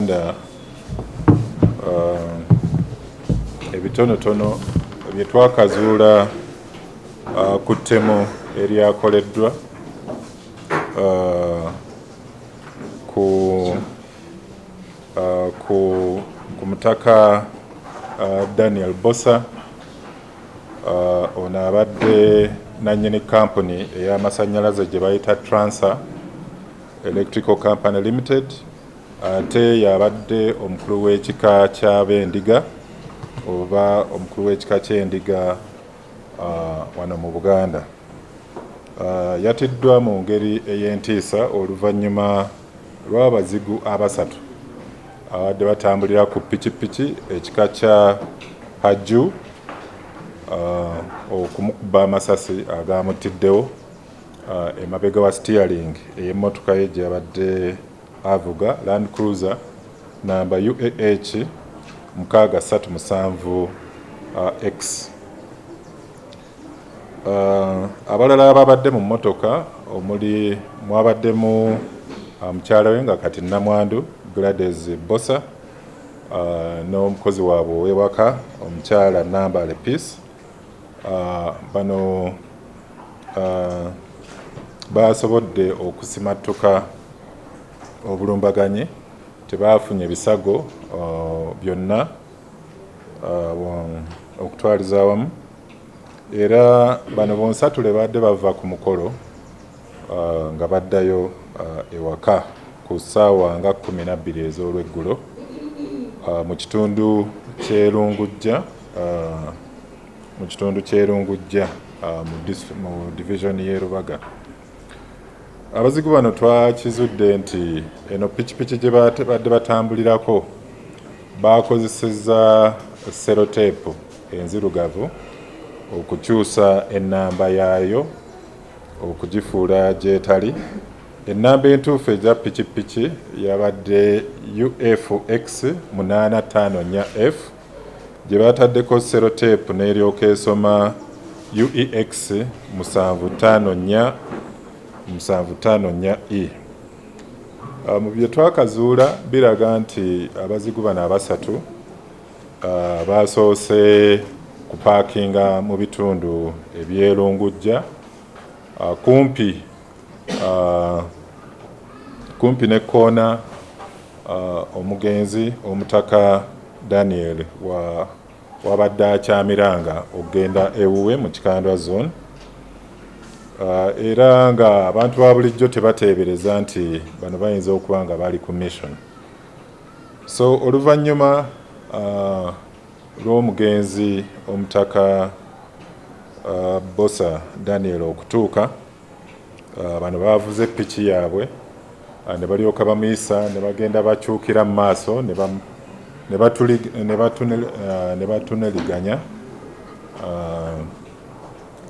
Uganda uh, ebitonotono bye twakazuula uh, ku ttemu eryakoleddwa uh, ku, uh, ku, ku mutaka uh, Daniel Bosa uh, ono abadde nannyini kampuni ey'amasannyalaze gye bayita Transa Electrical Company Limited Ate y'abadde omukulu w'ekika ky'Abendiga oba omukulu w'ekika ky'Endiga wano mu Buganda yatiddwa mu ngeri ey'entiisa oluvannyuma lw'abazigu abasatu ababadde batambulira ku pikipiki ekika kya Hajju okumukuba amasasi agaamuttiddewo. Emabega wa sitiyalingi ey'emmotoka ye gye yabadde avuga, Land Cruiser nnamba UAH mukaaga ssatu musanvu X. Abalala abaabadde mu mmotoka omuli mwabaddemu mukyala we nga kati nnamwandu Gladys Bbosa n'omukozi waabwe ow'ewaka omukyala Nambaale Peace Bano baasobodde okusimattuka obulumbaganyi, tebaafunye bisago byonna okutwaliza awamu era bano bonsatule baadde bava ku mukolo nga baddayo ewaka ku ssaawa nga kkumi na bbiri ez'olweggulo mu kitundu ky'e Lungujja mu kitundu ky'e Lungujja mu divizoni y'e Lubaga. Abazigu bano twakizudde nti eno pikipiki gye babadde batambulirako baakozesezza seroteepu enzirugavu okukyusa ennamba yaayo okugifuula gy'etali. Ennamba entuufu eza pikipiki yabadde UFX munaana ttaano nnya F gye baataddeko seroteepu n'eryoka esoma UEX musanvu ttaano nnya musanvu ttaano nnya E. Mu bye twakazuula biraga nti abazigu bano abasatu Uh, baasoose kupaakinga mu bitundu ebyelungujja uh, kumpi uh, kumpi ne koona uh, omugenzi omutaka Daniel wa wabadde akyamiranga okugenda ewuwe mu kikandwa zone uh, era nga abantu ba bulijjo tebateebereza nti bano bayinza okuba nga bali ku mission So oluvannyuma lw'omugenzi Omutaka Bbosa Daniel okutuuka, bano baavuze piki yaabwe ne balyoka bamuyisa ne bagenda bakyukira mu maaso ne batuneliganya.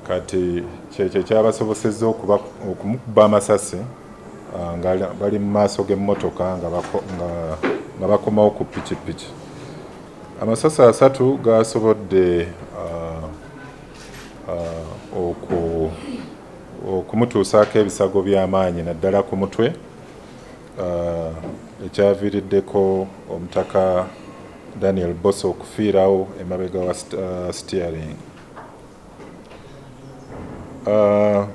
Kati kyekyo ekyabasobosezza okuba okumukuba amasasi ah, nga bali mu maaso g'emmotoka nga bakomawo ku pikipiki. Amasasi asatu gaasobodde ah, ah, okumutuusaako ebisago by'amaanyi naddala ku mutwe ekyaviiriddeko omutaka Daniel Bosa okufiirawo emabega wa steering. Ah,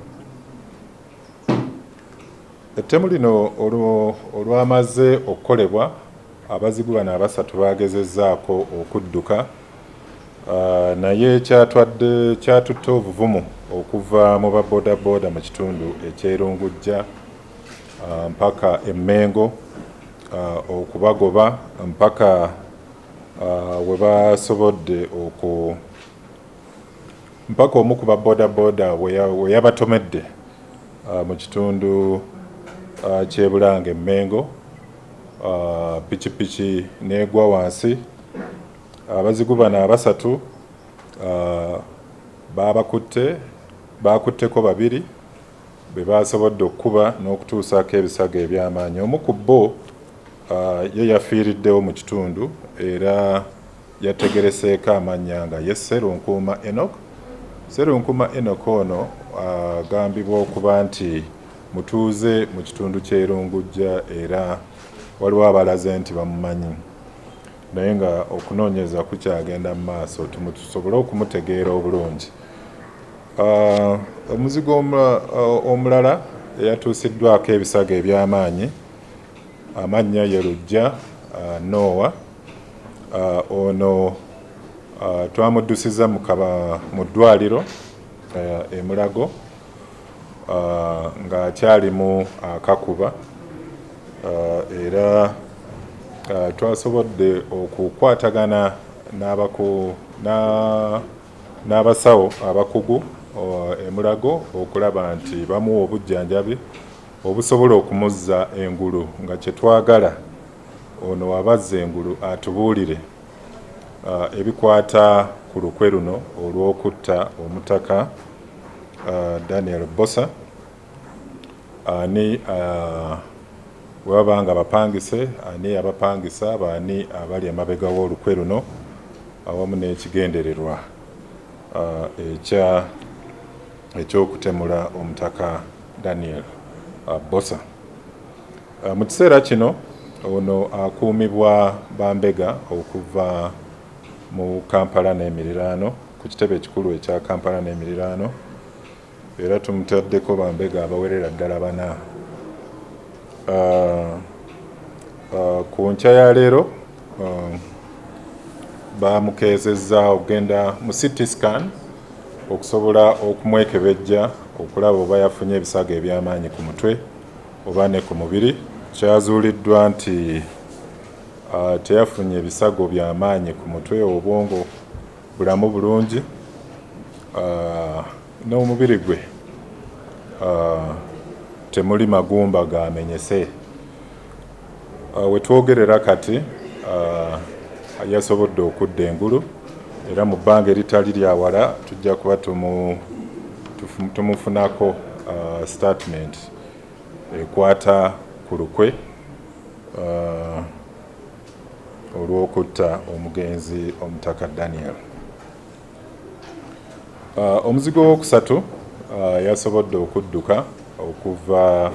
ettemu lino olwamaze okukolebwa abazigu bano abasatu bagezezaako okudduka ah, naye kyatwadde kyatutte obuvumu okuva mu babodaboda mu kitundu ekyerungujja ah, mpaka emmengo okubagoba mpaka webasobodde oku mpaka omu ku ba bodaboda we yabatomedde uh, mu kitundu uh, ky'e Bulange Mmengo uh, pikipiki n'egwa wansi abazigu uh, bano abasatu uh, baabakutte baakutteko babiri be baasobodde okukuba n'okutuusaako ebisago eby'amaanyi omu ku bo uh, ye yafiiriddewo mu kitundu era Yategereseeko amannya nga ye Sserunkuuma Enock. Sserunkuuma Enock ono agambibwa okuba nti mutuuze mu kitundu ky'e Lungujja era waliwo abalaze nti bamumanyi naye nga okunoonyereza kukyagenda mu maaso tusobole okumutegeera obulungi. Omuzigu omulala eyatuusiddwako ebisago eby'amaanyi Amannya ye Lujja Noowa. Ono twamuddusizza mu ddwaaliro e Mulago ng'akyalimu akakuba era twasobodde okukwatagana n'abasawo abakugu e Mulago okulaba nti bamuwa obujjanjabi. Obusobola okumuzza engulu nga kyetwagala ono waba azza engulu atubuulire ebikwata ku lukwe luno olw'okutta omutaka Daniel Bbosa ani bwebaba nga bapangise ani yabapangisa baani abali emabega w'olukwe luno awamu n'ekigendererwa eky'okutemula omutaka Daniel Bbosa. Mu kiseera kino ono akuumibwa bambega okuva mu Kampala n'emiriraano ku kitebe ekikulu ekya Kampala n'emiriraano era tumutaddeko bambega abawerera ddala bana. Ku nkya ya leero Um, baamukeezezza okugenda mu city scan okusobola okumwekebejja okulaba oba yafunye ebisago eby'amaanyi ku mutwe oba ne ku mubiri kyazuuliddwa nti uh, teyafunye ebisago by'amaanyi ku mutwe obwongo bulamu bulungi uh, n'omubiri gwe uh, temuli magumba gamenyese Uh, wetwogerera kati uh, yasobodde okudda engulu era mu bbanga eritali lyawala tujja kuba tumufunako uh, statement ekwata ku lukwe olw'okutta omugenzi omutaka daniel omuzigo wokusatu yasobodde okudduka okuva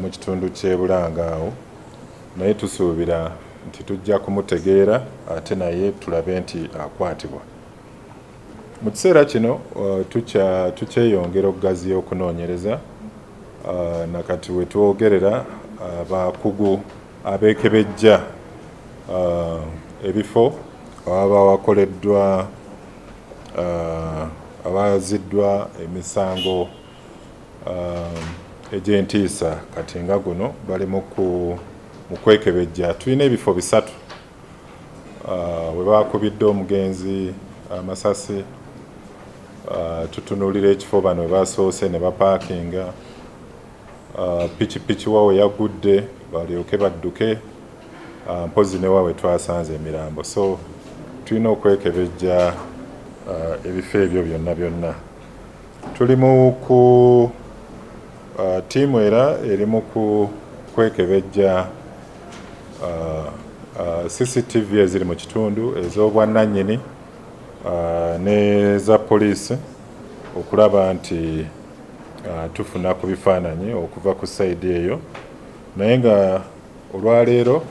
mu kitundu ky'e Bulanga awo naye tusuubira nti tujja kumutegeera ate naye tulabe nti akwatibwa. Mu kiseera kino tukyeyongera okugaziya okunoonyereza na kati we twogerera abakugu abeekebejja ebifo ababa wakoleddwa abaziddwa emisango egy'entiisa kati nga guno bali mu kwekebejja tulina ebifo bisatu ah, we bakubidde omugenzi amasasi ah, tutunuulira ekifo bano we basoose ne bapaakinga ah, pikipiki wawe yagudde balyoke badduke mpozi ne wawe twasanze emirambo so tulina okwekebejja ebifo ebyo byonna byonna Tuli mu ku ttiimu era eri mu ku kwekebejja CCTV eziri mu kitundu ez'obwannannyini n'eza poliisi okulaba nti tufuna ku bifaananyi okuva ku sayidi eyo naye nga Olwaleero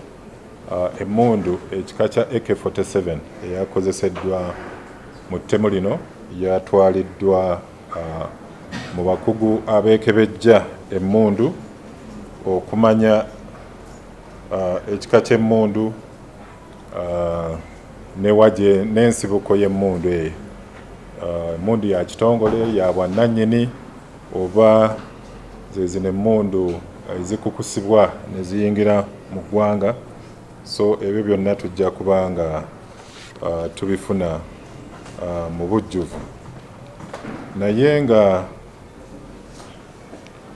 emmundu ekika kya AK forty seven eyakozeseddwa mu ttemu lino yatwaliddwa mu bakugu abeekebejja emmundu okumanya ekika ky'emmundu ne wa gye n'ensibuko y'emmundu eyo. Emmundu ya kitongole ya bwannannyini. oba zezino emmundu ezikukusibwa ne ziyingira mu ggwanga so ebyo byonna tujja kuba nga uh, tubifuna uh, mu bujjuvu naye nga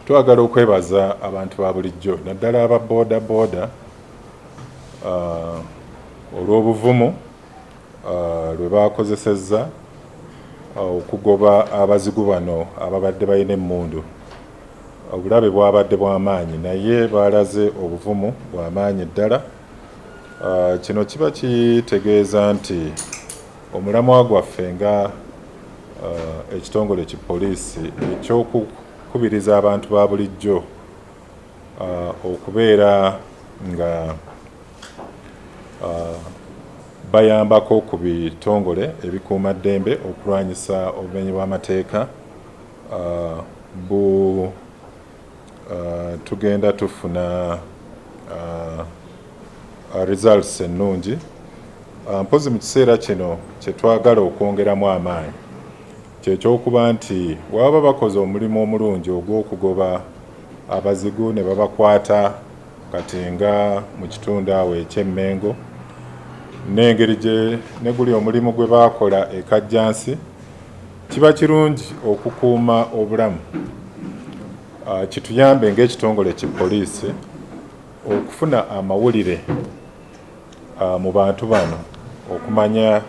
twagala okwebaza abantu ba bulijjo naddala aba booda booda uh, olw'obuvumu lwe baakozesezza okugoba abazigu bano ababadde balina emmundu. Obulabe bwabadde bwa maanyi naye baalaze obuvumu bwa maanyi ddala. Kino kiba kitegeeza nti omulamwa gwaffe nga ekitongole ki poliisi eky'okukubiriza abantu ba bulijjo okubeera nga bayambako ku bitongole ebikuuma ddembe okulwanyisa obumenyi bw'amateeka bu tugenda tufuna results ennungi mpozi mu kiseera kino kye twagala okwongeramu amaanyi kyekyokuba nti waba bakoze omulimu omulungi ogw'okugoba abazigu ne babakwata kati nga mu kitundu awo eky'e Mmengo n'engeri gye ne guli omulimu gwe baakola e Kajjansi kiba kirungi okukuuma obulamu kituyambe ng'ekitongole ki poliisi okufuna amawulire mu bantu bano okumanya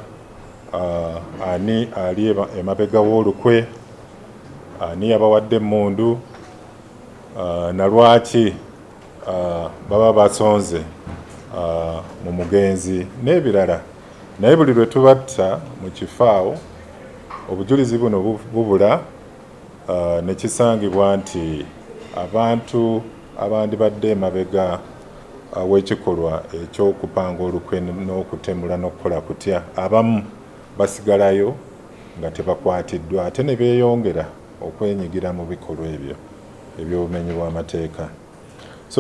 ani ali emabega w'olukwe. Ani yabawadde emmundu na lwaki baba basonze mu mugenzi n'ebirala naye buli lwe tubatta mu kifo awo obujulizi buno bubula ne kisangibwa nti abantu abandibadde emabega w'ekikolwa eky'okupanga olukwe n'okutemula n'okukola kutya abamu basigalayo nga tebakwatiddwa ate ne beeyongera okwenyigira mu bikolwa ebyo eby'obumenyi bw'amateeka.